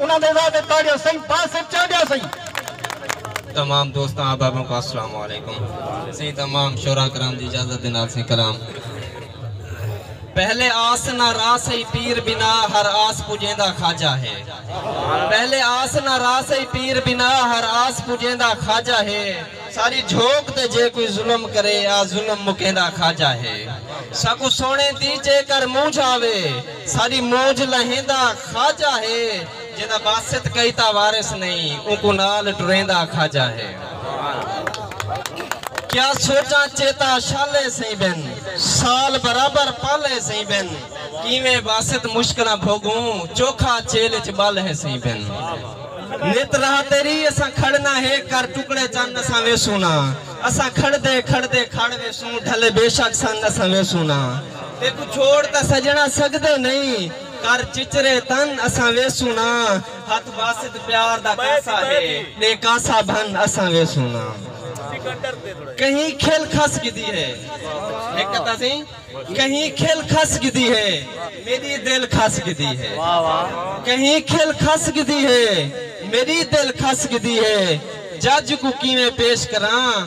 انہاں دے وعدے تاڑیاں سئیں بس اچ چانڈیاں سئیں۔ تمام دوستاں احباباں کوں السلام علیکم سئیں تمام شعراء کرام دی اجازت دے نال سئیں کلام پہلے آس نہ را سئی پیر بنا ہر آس پجیندا خواجہ ہے پہلے آس نہ را سئی پیر بنا ہر آس پجیندا خواجہ ہے ساری جھوک تے جے کوئی ظلم کرے آ ظلم مکیندا خواجہ ہے ساکوں سونے دی جے کر مونجھ آوے۔ ساݙی موج لہیندا خواجہ ہے۔ جیندا واسط کئی تاں وارث نئیں۔ اونکوں نال ٹریندا خواجہ ہے۔ کیا سوچاں چیتا شالے سئیں بن۔ سال برابر پالے سئیں بن۔ کیویں واسط مشکلاں بھوڳوں۔ چوکھا چیل اچ ٻالے سئیں بن۔ نت راہ تیݙی اساں کھڑنا ہے۔ کر ٹکڑے چن اساں ویسوں نا۔ اساں کھڑدے کھڑدے کھڑ ویسوں۔ ڈھلے بے شک سن اساں ویسوں نا۔ تیکوں چھوڑ تاں سجݨا سڳدے نئیں کر چچرے تن اساں ویسوں نا ہتھ باسط پیار دا کاسا ہے ݙے کاسا بھن اساں ویسوں نا کہیں کھل کھس گھدی ہے ہک تاں سئیں کہیں کھل کھس گھدی ہے میݙی دل کھس گھدی ہے کہیں کھل کھس گھدی ہے میݙی دل کھس گھدی ہے جج کوں کیویں پیش کراں